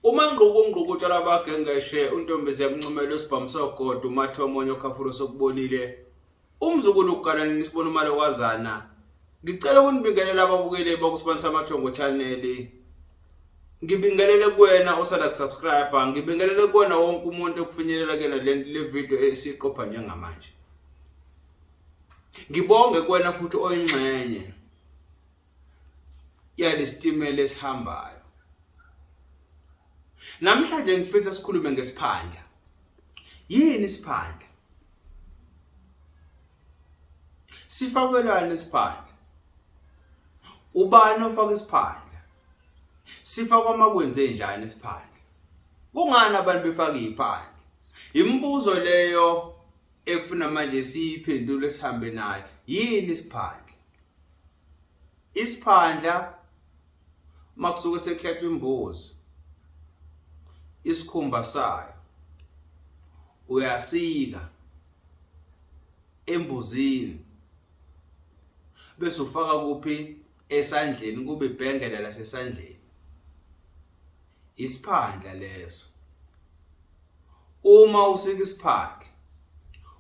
UMangqukungquku utshela abagengeshe uNtombize yakuncomela usibhamu sogodo umathe omonye okhafulo sokubolile umzukulu ugalanini isibona umali okwazana ngicela ukunibingelela ababukeli bakusibani samathongo channel ngibingelele kuwena osanda kusubscribe ngibingelele kuwena wonke umuntu okufinyelela kena le video esiqopha njengamanje ngibonge kuwena futhi oyingxenye yalesitimela esihambayo namhlanje ngifisa sikhulume ngesiphandla yini isiphandla sifakwelana isiphandla ubani ofaka isiphandla sifakwa makwenze njani isiphandla kungani abantu befaka iphandla imibuzo leyo ekufuna manje siyiphendule sihambe nayo yini isiphandla isiphandla makusuke sekuhlatshwa imbuzi isikhumba sayo uyasika embuzini bese ufaka kuphi esandleni kube ibhengela lasesandleni isiphandla leso uma usika isiphandla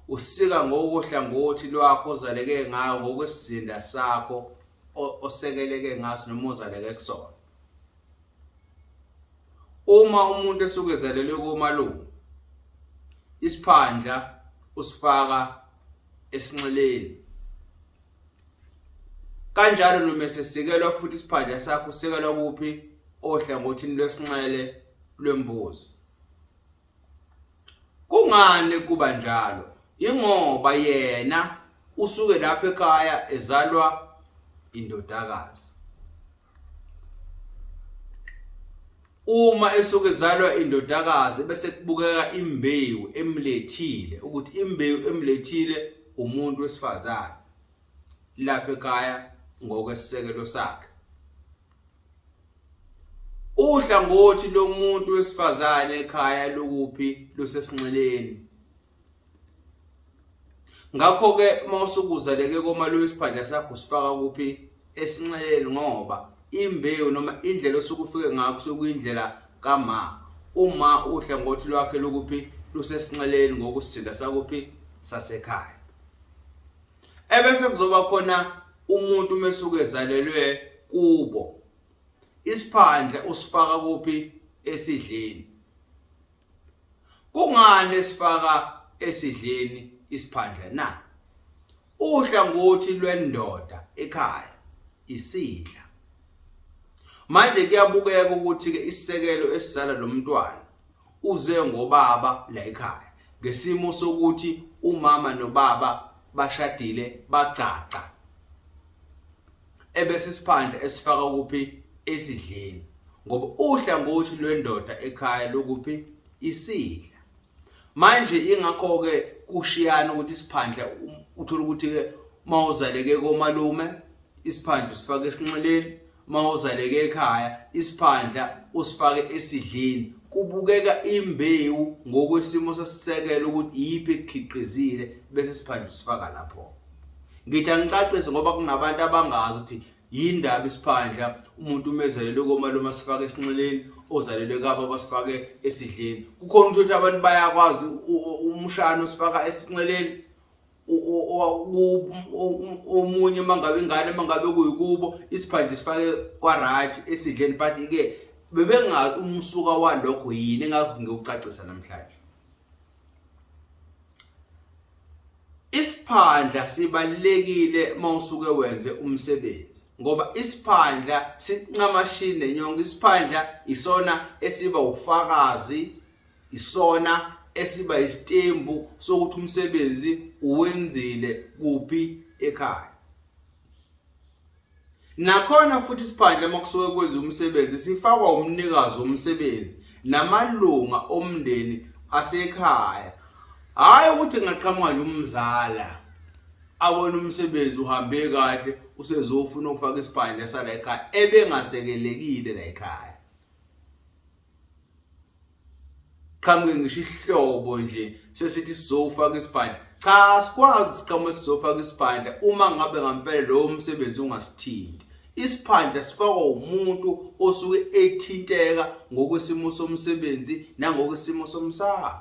usika ngokohlangothi lwakho ozaleke ngayo ngokwesizinda sakho osekeleke ngaso noma ozaleke kusona uma umuntu esuke ezalelwe komalume isiphandla usifaka esinxeleni Kanjalo noma esesikelwa futhi isiphandla sakho usekelwa kuphi ohlangothini lwesinxele lwembuzi. Kungani kuba njalo? Ingoba yena usuke lapha ekhaya ezalwa indodakazi. uma esuke ezalwa indodakazi bese kubukeka imbewu emlethile ukuthi imbewu emlethile umuntu wesifazane lapha ekhaya ngokwesisekelo sakhe uhlangothi lomuntu wesifazane ekhaya lokuphi lusesinxeleni ngakho-ke uma usukuzeleke komalume isiphadla sakho sifaka kuphi esinxeleni ngoba imbewu noma indlela osuke ufike ngayo kusuke kuyindlela kama uma uhlangothi lwakhe lukuphi lusesinxeleni ngokusinda sakuphi sasekhaya ebese kuzoba khona umuntu mesuke ezalelwe kubo isiphandla usifaka kuphi esidleni Kungani esifaka esidleni isiphandla na? Uhlangothi lwendoda ekhaya isidla. Manje kuyabukeka ukuthi ke isisekelo esizala lo mntwana uze ngobaba la ekhaya ngesimo sokuthi umama nobaba bashadile bagcagca ebese isiphandla esifaka kuphi esidleni ngoba uhlangothi lwendoda ekhaya lokuphi isidla manje ingakho ke kushiyana ukuthi isiphandla uthola ukuthi ke mawuzaleke komalume isiphandla usifaka esinxeleni mawuzaleke ekhaya isiphandla usifake esidleni kubukeka imbewu ngokwesimo sesisekelo ukuthi iyiphi ekhiqizile bese isiphandla usifaka lapho ngithi angicacise ngoba kunabantu abangazi ukuthi yindaba isiphandla umuntu umezelele komalume asifake esinxeleni ozalelwe kabo basifake esidleni kukhona ukuthi abantu bayakwazi umshana osifaka esinxeleni omunye mangabe ingane mangabe kuyikubo isiphandla sifake kwarathi esidleni but ke bebengazi umsuka walokho yini engakho ngikucacisa namhlanje Isiphandla sibalulekile uma usuke wenze umsebenzi ngoba isiphandla sincamashini nenyongo isiphandla isona esiba ufakazi isona esiba isitembu sokuthi umsebenzi uwenzile kuphi ekhaya Nakhona futhi isiphandla uma kusuke kwenza umsebenzi sifakwa umnikazi womsebenzi namalunga omndeni asekhaya hhayi ukuthi ngaqhamuka nje umzala abone umsebenzi uhambe kahle usezofuna ukufaka isibhandla sala ekhaya ebengasekelekile la ekhaya qhamuke ngisho ihlobo nje sesithi sizofaka isibhadla cha sikwazi siqhamuke sizofaka isibhadla uma ngabe ngampela lowo msebenzi ungasithinti isiphandla sifakwa umuntu osuke ethinteka ngokwesimo somsebenzi nangokwesimo somsamo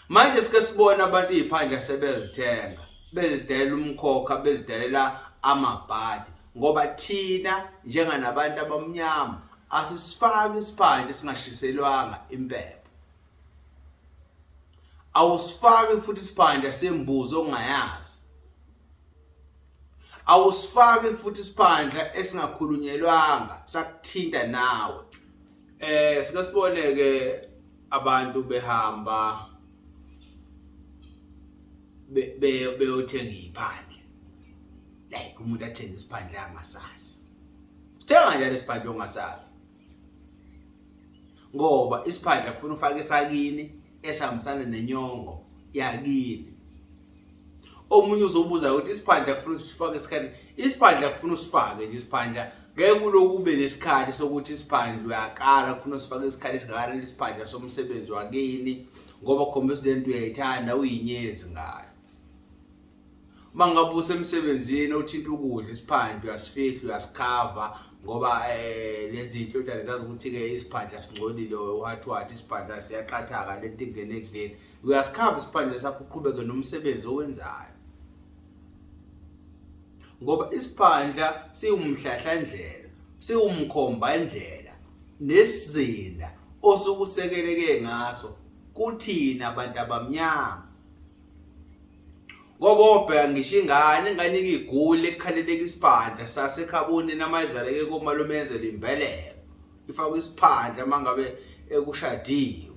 manje sike sibone abantu iy'phandla sebezithenga bezidelela umkhokha bezidelela amabhadi ngoba thina njenganabantu abamnyama asisifaki isiphandla esingashiselwanga impepho awusifaki futhi isiphandla sembuzo ongayazi awusifaki futhi isiphandla esingakhulunyelwanga sakuthinta nawe Eh sike sibone ke abantu behamba beyothenga iphandle like umuntu athenga isiphandle angasazi uthenga kanjani isiphandle ongasazi ngoba isiphandle kufuna ufake esakini esihambisana nenyongo yakini omunye uzobuza ukuthi isiphandla kufuna usifake isikhathi isiphandla kufuna usifake nje isiphandla ngeke kuloku ube nesikhathi sokuthi isiphandla uyaqala kufuna usifake isikhathi esingakanani isiphandla somsebenzi wakini ngoba khombisa le nto uyayithanda uyinyezi ngayo uma ngabe usemsebenzini othinta ukudla isiphandla uyasifihla uyasikhava ngoba um eh, lezi nhlotshane zazi ukuthi-ke isiphandla singcolile wathi wathi isiphandla siyaqathaka le nto ingene ekudleni uyasikhava isiphandla sakho uqhubeke nomsebenzi owenzayo ngoba isiphandla siwumhlahlandlela siwumkhombandlela nesizinda osukusekeleke ngaso kuthina abantu abamnyama ngoba obheka ngisho ingane ingane igigule ekukhaleleka isiphandla sasekhaboni namayizaleke komalume yenzela imbeleko ifakwa isiphandla uma ngabe ekushadiwe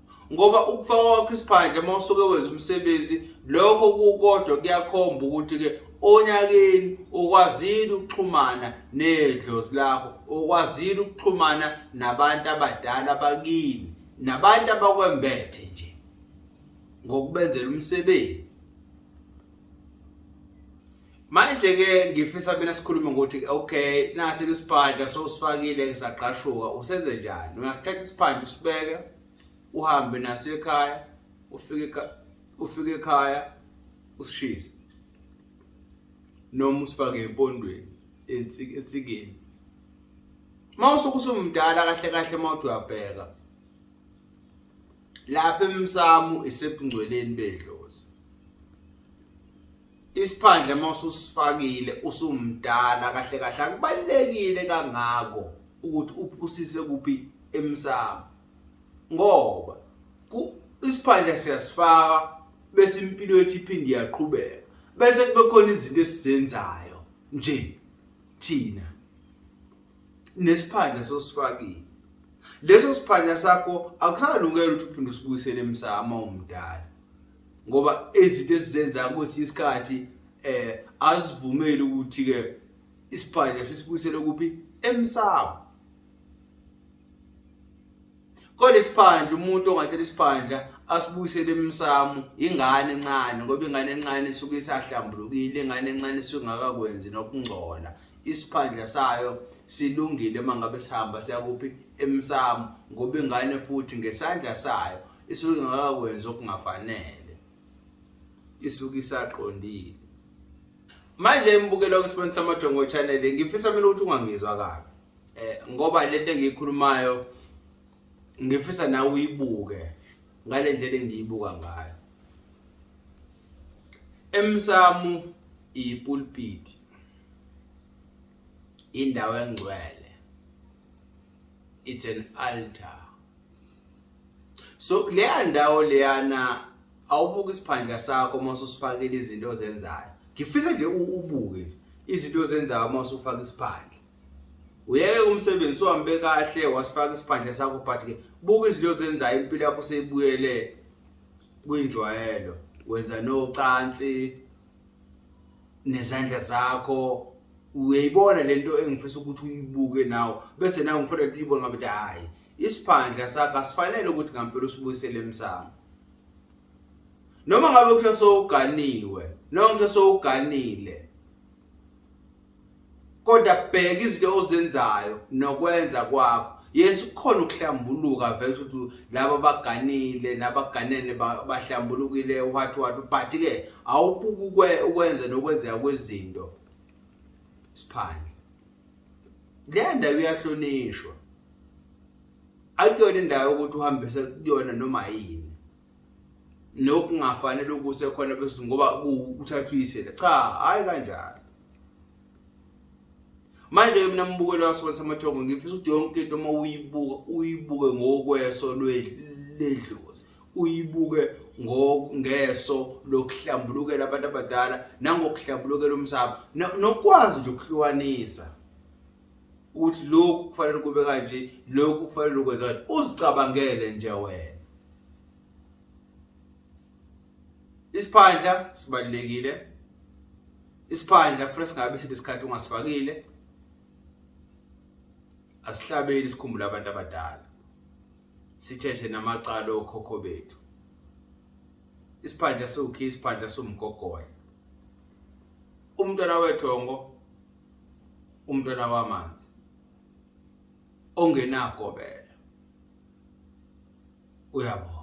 ngoba ukufaka kwakho isiphandla uma usuke wenza umsebenzi lokho kukodwa kuyakhomba ukuthi-ke onyakeni ukwazile ukuxhumana nedlozi lakho ukwazile ukuxhumana nabantu abadala bakini nabantu abakwembethe nje ngokubenzela umsebenzi manje ke ngifisa mina sikhulume ngokuthi okay nasi ke isiphandla so usifakile ngisaqashuka usenze njani uyasithatha isiphandla usibeke uhambe naso ekhaya ufike ufike ekhaya usishise noma usifake empondweni entsikeni mawusuke usumdala kahle kahle mawuthi uyabheka lapha emsamu isebungcweleni bedlozi isiphandla uma ususifakile usumdala kahle kahle akubalekile kangako ukuthi uphusise kuphi emsamo ngoba isiphandla siyasifaka bese impilo yethu iphinde iyaqhubeka bese kube khona izinto esizenzayo nje thina nesiphandla sosifakile leso siphandla sakho akusalungela ukuthi uphinde usibuyisele emsamo umdala ngoba izinto esizenza kwesinye isikhathi eh azivumeli ukuthi ke isibhanya sisibuyisele kuphi emsamo kodwa isiphandla umuntu ongahleli isiphandla asibuyisele emsamo ingane encane ngoba ingane encane isuke isahlambulukile ingane encane isuke ngakakwenzi nokungcola isiphandla sayo silungile mangabe sihamba siyakuphi emsamo ngoba ingane futhi ngesandla sayo isuke ingakakwenzi okungafanele isuke isaqondile manje imbukelo ngesibani samajongo channel ngifisa mina ukuthi ungangizwa kabi eh ngoba lento engiyikhulumayo ngifisa nawe uyibuke ngale ndlela engiyibuka ngayo emsamu ipulpit indawo engcwele it's an altar so leya ndawo leyana awubuke isiphandla sakho uma usufakile izinto ozenzayo ngifisa nje ubuke izinto ozenzayo uma usufaka isiphandla uyeke umsebenzi uhambe kahle wasifaka isiphandla sakho but ke buka izinto ozenzayo impilo yakho seyibuyele kwinjwayelo wenza nocansi nezandla zakho uyayibona lento engifisa ukuthi uyibuke nawe bese nawe ngifanele uyibone ngabe hayi isiphandla sakho asifanele ukuthi ngampela usibuyisele emsamo noma ngabe kuthiwa sowuganiwe noma kuthiwa sowuganile kodwa bheka izinto ozenzayo nokwenza kwakho yes kukhona ukuhlambuluka vele ukuthi laba abaganile nabaganene bahlambulukile what what but ke awubuki ukwenza nokwenzeka kwezinto siphandle le ndawo iyahlonishwa akuyona indawo yokuthi uhambe sekuyona noma yini nokungafanele ukuse khona bese ngoba uthathwa isele cha hayi kanjalo manje ke mina mbukelo wasona samathongo ngifisa ukuthi yonke into uma uyibuka uyibuke ngokweso lwedlozi uyibuke ngeso lokuhlambulukela abantu abadala nangokuhlambulukela umsamo nokwazi nje ukuhlukanisa ukuthi lokhu kufanele kube kanje lokhu kufanele ukwenza kanje uzicabangele nje wena isiphandla sibalekile isiphandla kufanele singabe sithi isikhathi ungasifakile asihlabeni sikhumbula abantu abadala sithethe namacala okhokho bethu isiphandla sokhi isiphandla somgogoya umntwana wethongo umntwana wamanzi ongenagobela uyabona